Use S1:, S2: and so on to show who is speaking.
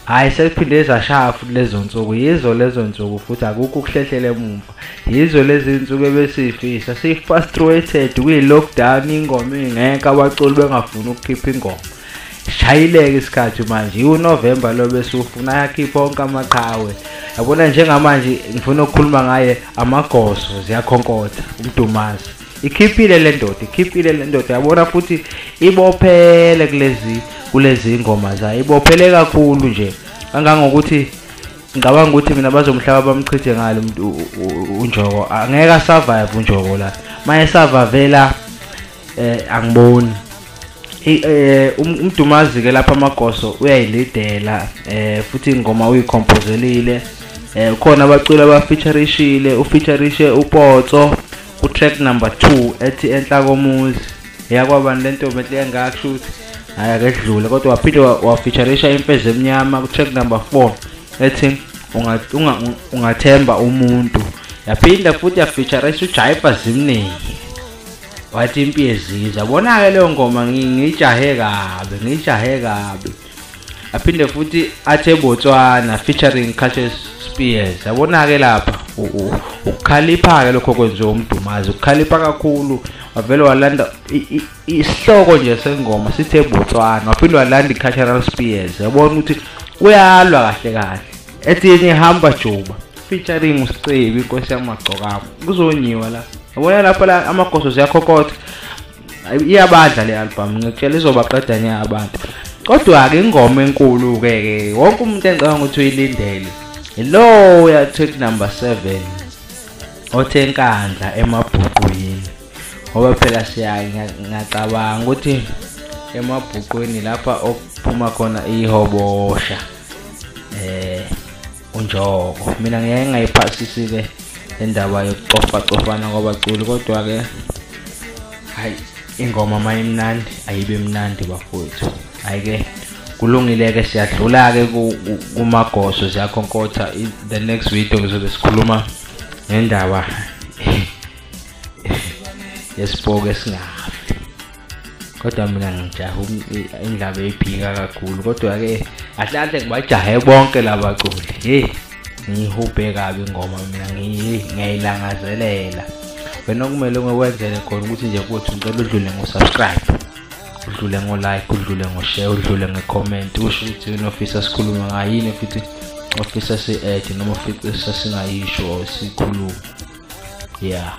S1: hayi sekuphinde zashaya futhi lezo nsuku yizo lezo nsuku futhi akukho ukuhlehlela emumva yizo lezi nsuku ebesiyifisa siyi-frustrated kuyi-lockdown ingoma ingekho abaculi bengafuni ukukhipha ingoma shayileke isikhathi manje iwunovemba lo besiwufuna ayakhipha onke amaqhawe yabona njengamanje ngifuna ukukhuluma ngaye amagoso ziyakhonkotha umdumazi ikhiphile le ndoda ikhiphile le ndoda yabona futhi ibophele kulezi kulezi ngoma zayo ibophele kakhulu nje kangangokuthi ngicabanga ukuthi mina bazomhlaba bamchithe ngalo umuntu unjoko angeke asurvive unjoko la maye savavela eh angiboni eh um, umdumazi ke lapha amagoso uyayilidela eh futhi ingoma uyikhompozelile eh khona abaculi abafeaturishile ufeaturishe upotso utrack number 2 ethi enhla komuzi eyakwabani le ntombi enhle kangaka kusho ukuthi hhayi akedlule kodwa waphinde wafeaturisha imfezi emnyama kutrack number 4 ethi ungathemba umuntu yaphinda futhi yafeaturisha ujayipa zimningi wathi impi yeziza bona-ke leyo ngoma ngiyijahe kabi ngiyijahe kabi aphinde futhi athe Botswana featuring Cassius Spears yabona-ke lapha ukukhalipha-ke lokho kwenziwe umdumazi ukukhalipha kakhulu wavele walanda isihloko nje sengoma sithe Botswana waphinde walanda i-cultural spears yabona ukuthi uyalwa kahle kahle ethi yenye hamba juba featuring usicebi inkosi yamagcokamo kuzonyiwa la yabona lapho la amagoso ziyakhokotha iyabadla le album ngikutshela izobaqeda nya abantu kodwa ke ingoma enkulu ke ke wonke umuntu engicabanga ukuthi uyilindele lo ya track number 7 othe inkandla emabhuqwini ngoba phela siya ngiyacabanga ukuthi emabhuqwini lapha okuphuma khona ihobosha eh unjoko mina ngeke ngayiphasisi ke indaba yokucofa cofana kwabaculi kodwa ke hayi ingoma mayimnandi ayibe mnandi bafowethu hayi ke kulungile ke siyadlula ke kumagoso ziyakhonkotha the next video ngizobe sikhuluma ngendaba yesipoke singafi kodwa mina ngijaha indlaba eyiphika kakhulu kodwa-ke ahlahle ngibajahe bonke laba culi heyi ngiyihubhe kabi ingoma mina ngiyayilangazelela wena okumele ngikwenzele khona ukuthi nje kuthi ngicela udlule ngo-subscribe udlule ngo-like udlule ngo-share udlule nge-comment usho ukuthi yini ofisa sikhulume ngayini futhi ofisa si-add noma ofisa singayisho or sikhulume yeah